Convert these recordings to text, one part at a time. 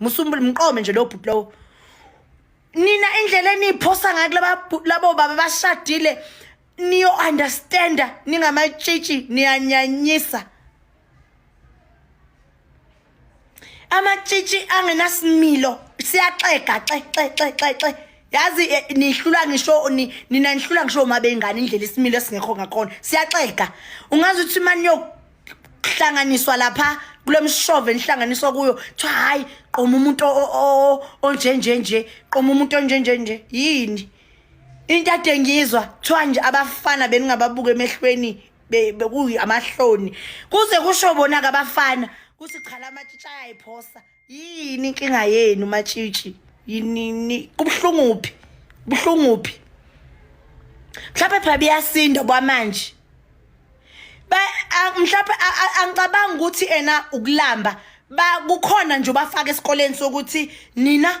musumbule mqome nje lo bhuti lowo nina indlela eniyiphosa ngayo kulaba labo baba bashadile niyo understanda ningamatshitshi niyanyanyisa amatshitshi angenasimilo siyaxega xexexexexe yazi eh, nihlula ngisho nina nihlula ngisho uma bengane indlela isimilo esingekho ngakhona siyaxega ungazi ukuthi imani hlanganiswa lapha kulomshove enhlanganiso kuyo kuthiwa hayi qoma umuntu onjenje nje qoma umuntu onjenje nje yini into ade ngizwa kuthiwa nje abafana beningababuka emehlweni bekuyi amahloni kuze kusho bona-ke abafana kuthi chala amatshitsha ayayiphosa yini inkinga yenu matshitshi yinini kubuhlungu phi kubuhlungu phi mhlawumbe phela biyasinda kwamanje mhlawumbe angicabanga ukuthi ena ukulamba ba kukhona nje bafaka esikoleni sokuthi nina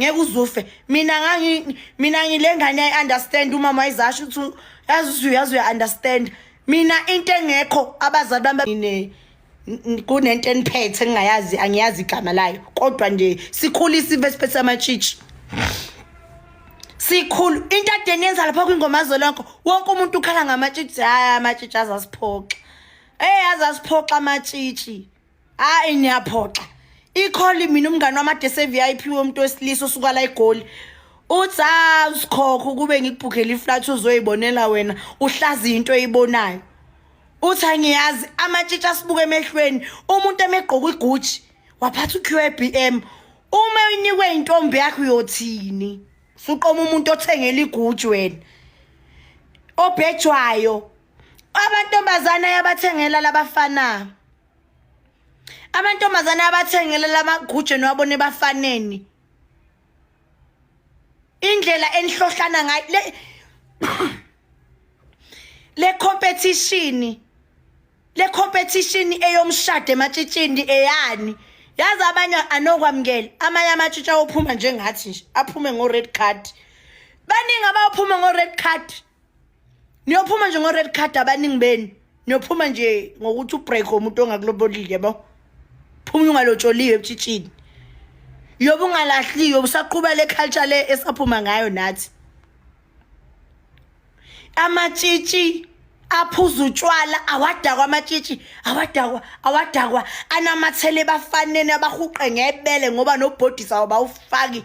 ngeke uzufe mina ngangi mina ngilengane i understand umama izasho ukuthi yazi uyazi uya understand mina into engekho abazali bami ne kunento eniphethe engingayazi angiyazi igama layo kodwa nje sikhula isive siphethe amatshitshi sikhulu into adeni yenza lapha kwingoma zolonke wonke umuntu ukhala ngamatshitshi hayi amatshitshi azasiphoxa eh azasiphoxa amatshitshi hayi niyaphoxa ikholi mina umngane wamade se-vip womuntu wesilisa osuka la egoli uthi ha usikhokho ukube ngikubhukhela iflat uzoyibonela wena uhlazi into eyibonayo uthi angiyazi amatshitshi asibuke emehlweni umuntu emegqoka igucci waphatha uqbm uma uyinikwe intombi yakho uyothini suqoma umuntu othengela igucci wena obhejwayo amantombazane ayabathengela labafana amantombazane ayabathengela lamaguje niwabone bafaneni indlela enihlohlana ngayo le le competition le competition eyomshado ematshitshini eyani yazi abanye anokwamukela amanye amatshitsha ophuma njengathi nje aphume ngo red card baningi abaphuma ngo red card niyophuma nje ngo-red card abaningi benu niyophuma nje ngokuthi ubreak umuntu ongakulobolile yabo phuma ungalotsholiwe ebutshitshini yobe ungalahliyo usaqhuba le culture le esaphuma ngayo nathi amatshitshi aphuza utshwala awadakwa amatshitshi awadakwa awadakwa anamathele bafanene abahuqe ngebele ngoba nobhodisa wabawufaki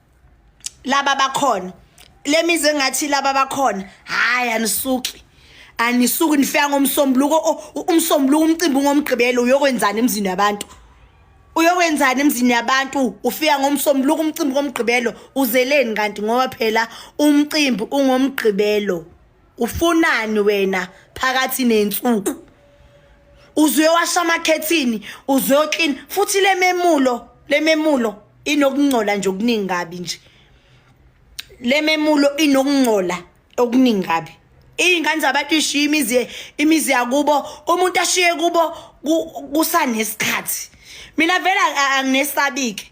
laba bakhona lemizi engathi laba bakhona hayi anisuki anisuki nifika ngomsombuluko umsombuluko umcimbi ngomgqibelo uyokwenzani emzini yabantu uyokwenzani emzini yabantu ufika ngomsombuluko umcimbi ngomgqibelo uzeleni kanti ngoba phela umcimbi ungomgqibelo ufunani wena phakathi nensuku uzuye washa amakhethini uzuye clean futhi lememulo lememulo inokungcola nje okuningi kabi nje lememulo inokungcola okuningi kabi iy'ngane zabantu ishiye imizi imizi yakubo umuntu ashiye kubo kusanesikhathi mina vele anginesabike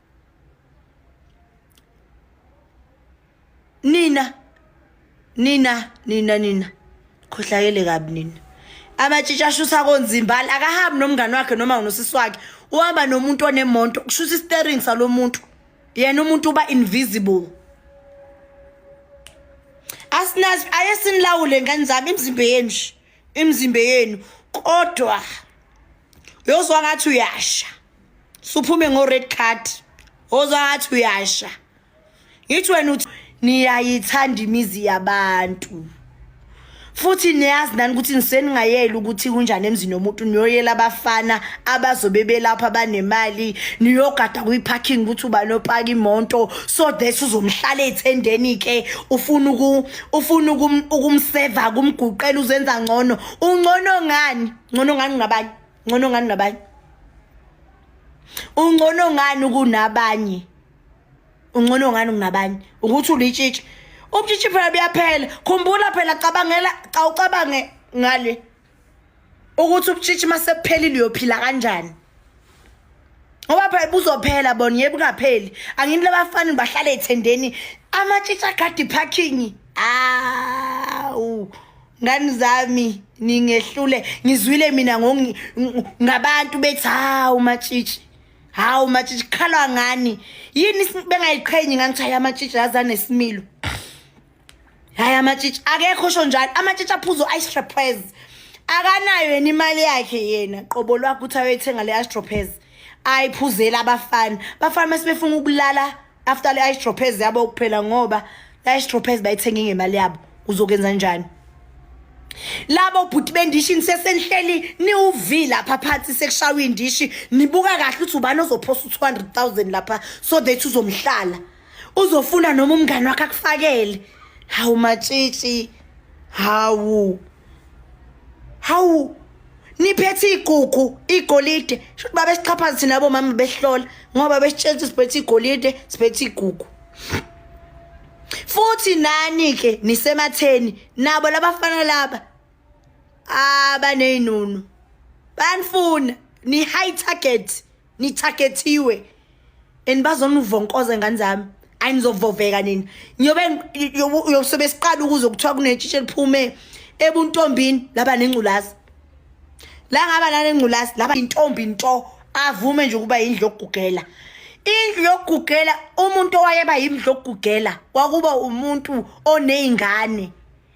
nina nina nina nina khohlakele kabi nina amatshitshi ashusa konzimbali akahambi nomngane wakhe noma unosisi wakhe uhamba nomuntu onemonto kushusa istering salo muntu yena umuntu uba invisible asinazi ayesinilawule ngani zami imizimba yenu imizimba yenu kodwa yozwa ngathi uyasha suphume ngo red card ozathi uyasha ngithi wena uthi niyayithanda imizi yabantu futhi niyazi nani ukuthi niseningayeli ukuthi kunjani emzini womuntu niyoyela abafana abazobe belapha banemali niyogada kwi-parking ukuthi uba nopaka imoto so that uzomhlala ethendeni ke ufuna ufuna ukumseva kumguqela uzenza ngcono ungcono ngani ngcono ngani ngabanye ngcono ngani nabanye ungcono ngani kunabanye ungcono ngani kunabanye ukuthi ulitshitshi ubutshitshi phela buyaphela khumbula phela cabangela xa ucabange ngale ukuthi ubutshitshi masephelile uyophila kanjani ngoba phela buzophela bona yebo kungapheli angini labafana bahlale ethendeni amatshitshi agadi parking awu ah, ngani zami ningehlule ngizwile mina ngabantu bethi hawu matshitshi hawu matshitshi khalwa ngani yini bengayiqhenyi ngani ukuthi hayi amatshitshi azanesimilo hayi amatshitshi akekho sho njalo amatshitshi aphuzo istrapez akanayo yena imali yakhe yena qobo lwakho ukuthi ayoyithenga le astropez ayiphuzela abafana bafana uma sebefuna ukulala after le ice droppers yabo kuphela ngoba la ice droppers bayithenge ngemali yabo uzokenza njani labo bhuti bendishi nisesenihleli niwuvi lapha phansi sekushawa indishi nibuka kahle ukuthi ubani ozophosa u-200 000 lapha so that uzomhlala uzofuna noma umngane wakhe akufakele hawu matshitshi hawu hawu niphethe iy'gugu igolide sho ukuthi babesixhaphaza thina abomama behlola ngoba besitshela ukuthi siphethe igolide siphethe igugu futhi nani-ke nisematheni nabo labafana laba abaney'nunu banifuna ni-high target nithagethiwe and bazonivonkoza ngane zami ayi nizovoveka nina ngiyobe uyosobe siqala ukuze kuthiwa kunetshitshe liphume ebuntombini laba nengculazi la ngaba nanengculazi laba intombi nto avume nje ukuba yindlu yokugugela indlu yokugugela umuntu owayeba yindlu yokugugela kwakuba umuntu oney'ngane